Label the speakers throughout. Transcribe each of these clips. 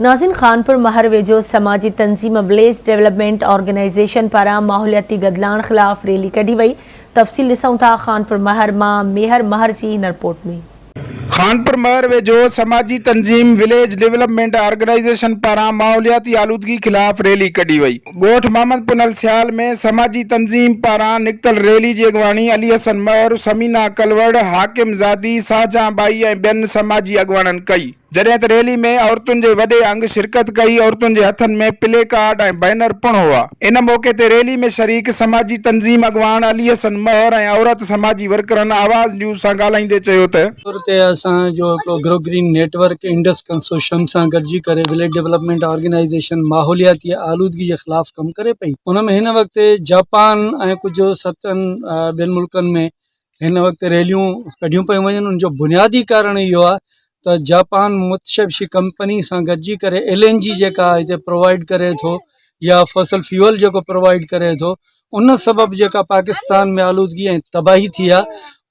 Speaker 1: ناظرين خانپور مهر ويجهو سماجي تنظيم بليز ڊولپمينٽ آرگنائيزيشن پاران ماحولياتي گدلاڻ خلاف ريلي ڪڍي وئي تفصيل ڏسون ٿا خانپور مهر مان ميهر مهر جي هن رپورٽ ۾. خانپور مهر
Speaker 2: ويجهو سماجي تنظيم وليج ڊولپمينٽ آرگنائيزيشن پاران ماحولياتي آلودگي خلاف ريلي ڪڍي وئي. ڳوٺ محمد پنهل سيال ۾ سماجي تنظيم پاران نڪتل ريلي جي اڳواڻي علي حسن مهر، ثمينه ڪلوڙ، حاڪم زادي، شاهجهان ٻائي ۽ ٻين سماجي اڳواڻن ڪئي. جڏهن ته ريلي ۾ عورتن جي وڏي انگ شرڪت ڪئي، عورتن جي هٿن ۾ پلي ڪارڊ ۽ بئنر پڻ هئا. ان موقعي تي ريلي ۾ شريڪ سماجي تنظيم اڳواڻ علي حسن مهر ۽ عورت سماجي ورڪرن آواز نيوز سان ڳالهائيندي چيو ته، طور تي اسان جو هڪڙو
Speaker 3: grow green network Indus consortium سان گڏجي ڪري وليج ڊولپمينٽ آرگنائيزيشن ماحولياتي آلودگي جي خلاف ڪم ڪري پئي ان ۾ هن وقت جاپان ۽ ڪجهه ستن ٻين ملڪن ۾ هن وقت ريليون ڪڍيون پيون وڃن ان جو بنيادي ڪارڻ اهو آهي ته جاپان متشبشي ڪمپني سان گڏجي ڪري ايل اين جي جيڪا هتي پرووائيڊ ڪري ٿو يا فصل فيول جيڪو پرووائيڊ ڪري ٿو ان سبب جيڪا پاڪستان ۾ آلودگي ۽ تباهي ٿي آ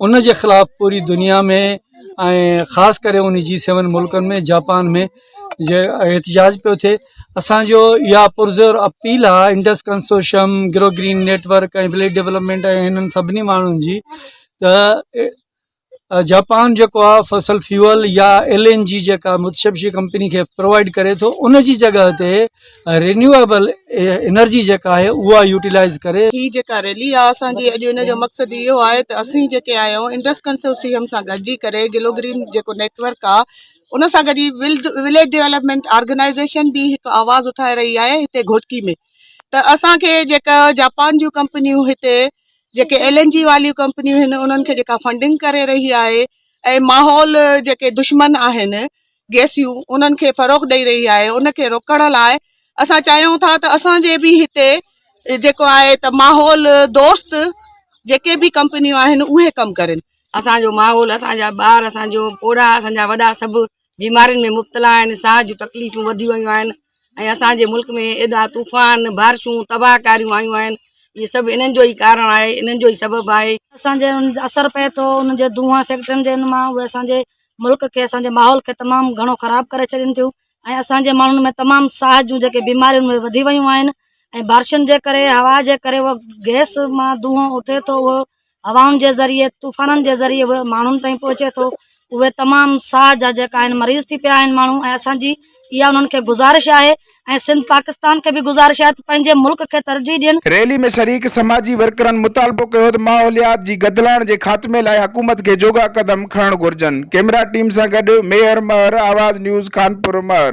Speaker 3: ان جي خلاف پوري دنيا ۾ ۽ خاص ڪري ان جي سيون ملڪن ۾ جاپان ۾ جي احتجاج پيو ٿئي اسانجو اها پرزور اپيل آ Indus consortium grow green network ۽ village development ۽ انهن سڀني ماڻهن جي ته جاپان جيڪو آ فصل فيول يا ايل اين جي جيڪا متشبشي ڪمپني کي پرووائيڊ ڪري ٿو ان جي جڳهه تي رينيوبل انرجي جيڪا آهي اها يوٽيلائز ڪري هي جيڪا ريلي آ
Speaker 4: اسان جي اڄ ان جو مقصد اهو آهي ته اسين جيڪي آهيون انڊس ڪنسورسيم سان گڏجي ڪري گلو گرين جيڪو نيٽ ورڪ آ ان سان گڏجي وليج ڊيولپمينٽ آرگنائيزيشن به هڪ آواز اٺائي رهي آهي هتي گهوٽڪي ۾ ته اسان کي جيڪا جاپان جون ڪمپنيون هتي جيڪي ايل اين جي واريون ڪمپنيون آهن انهن کي جيڪا فنڊنگ ڪري رهي آهي ۽ ماحول جيڪي دشمن آهن گيسيون انهن کي فروغ ڏئي رهي آهي ان کي روڪڻ لاء اسان چاهيون ٿا ته اسانجي به هتي جيڪو آهي ته ماحول دوست جيڪي به ڪمپنيون آهن اهي ڪم ڪرين اسانجو ماحول
Speaker 5: اسانجا ٻار اسانجو پوڙها اسانجا وڏا سڀ بيمارين ۾ مبتلا آهن، ساهه جون تڪليفون وڌيون ويون آهن ۽ اسان جي ملڪ ۾ ايڏا طوفان، بارشون، تباهه ڪاريون آيون آهن، اهي سڀ انهن جو ئي ڪارڻ آهي، انهن جو ئي سبب آهي. اسان جي انهن اثر
Speaker 6: پئي ٿو، انهن جي دونهن فيڪٽرين جي ان مان اهي اسان جي ملڪ کي، اسان جي ماحول کي تمام گهڻو خراب ڪري ڇڏين ٿيون ۽ اسان جي ماڻهن ۾ تمام ساهه جون جيڪي بيماريون اهي وڌي ويون آهن ۽ بارشن جي ڪري، هوا جي ڪري اهو گئس مان دونهن اٿي ٿو اهو هوائن جي ذريعي طوفانن جي ذريعي به ماڻهن تائين پهچي ٿو اهي تمام ساهه جا جيڪا آهن مريض ٿي پيا آهن ماڻهو ۽ اسان جي اها انهن کي گذارش آهي ۽ سنڌ پاڪستان کي به گذارش آهي ته پنهنجي ملڪ کي ترجيح ڏين ريلي ۾ شريڪ
Speaker 2: سماجي ورڪرن مطالبو ڪيو ته ماحوليات جي گدلاڻ جي خاتمي لاء حڪومت کي جوڳا قدم کڻڻ گهرجن، ڪيمرا ٽيم سان گڏ ميهر مهر، آواز نيوز، خانپور، مهر.